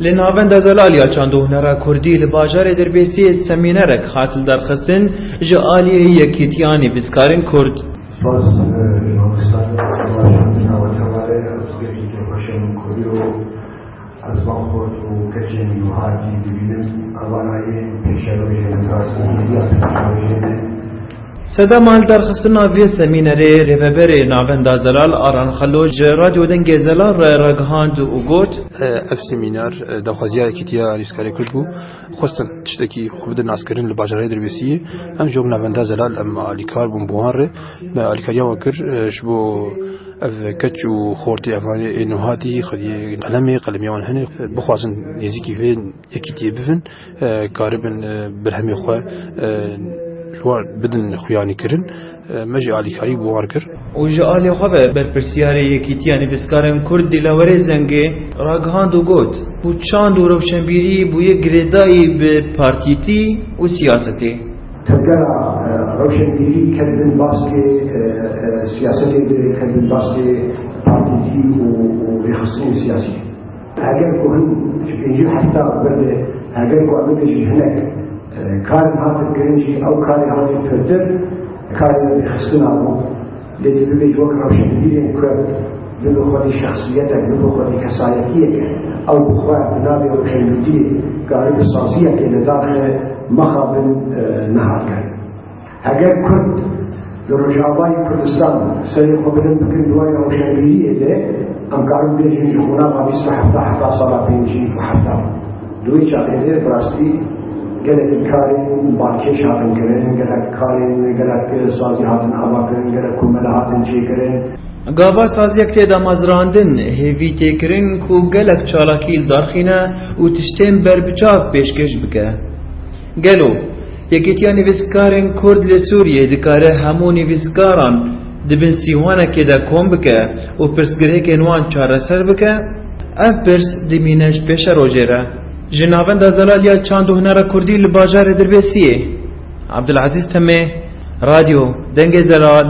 Li navenda Zelalya çandûhnera Kurdî li bajarê Dirbêsiyê semînerek hat li derxistin ji aliyê Yekîtiya Nivîskarên Kurd. Spas ji mamosta Baş Navenda Malê Hertûkê Tirkiyê Xweşiya min Kurî û Ez Bamkot û keçên wiha jî dibînim. Evanayê pêşerojê min ra sûriya pêşerojê min. Sedema li derxistina vê semînerê Rêveberê Navenda Zelal Aran Xelo ji Radyo Dengê Zelal re ragihand û got, Ev semîner daxwaziya Yekîtiya Alîskarê Kurd bû. Xwestin tiştekî xwe bidin naskirin li bajarê Dirbêsiyê. Em ji wan bûn navenda zelal, em alîkar bûn bi wan re. Me alîkariya wan kir ji bo ev keç û xortê evan ê nuhatî xwediyê qelemê, qelemiya wan hene, bixwazin nêzîkî vê yekîtiyê bibin, karibin berhemê xwe li wan bidin xuyanîkirin. Me ji alîkarî bi war kir. Û ji alî xwe ve berpirsyarê Yekîtiya Nivîskarên Kurd Dîlawerê Zengê ragihand û got, Û çand û rewşenbîrî bûye girêdayî bi partîtî û siyasetê. Tevgera rewşenbîrî ket bin baskê siyasetê ve, ket bin baskê partîtî û rêxistinên siyasî. Heger ku hin ji pêncî hefta berde heger ku em bibêjin hinek karên hatin kirin jî ew karê hatin pirtir karê rêxistina bû lê tu bibêj wek rewşenbîrên kurd bibe xwedî şexsiyetek bibe xwedî kesayetiyeke ew bi xwe bi navê rewşenbîriyê karî bi saziyekê li daxê mexabin niha kirin. Heger Kurd li Rojavayê Kurdistan serê xwe bilind bikin li warê rewşenbîriyê de, em karin bêjin ji qonaxa bîst û hefta heta sala pêncî û hefta. Di wê çavê de bi rastî gelekî karên balkêş hatin kirin, gelek karên gelek sazî hatin avakirin, gelek komele hatin çêkirin. Gava saziyek tê damezrandin, hêvî tê kirin ku gelek çalakî li dar xîne û tiştên berbiçav pêşkêş bike. Gelo Yekîtiya Nivîskarên Kurd li Sûriyê dikare hemû nivîskaran di bin sîwanekê de kom bike û pirsgirêkên wan çareser bike, ev pirs dimîne ji pêşe rojê re. Ji Navenda Zelaliya Çand û Hunera Kurdî li bajarê Dirbêsiyê, Abdulezîz Timê, Radyo Dengê Zelal,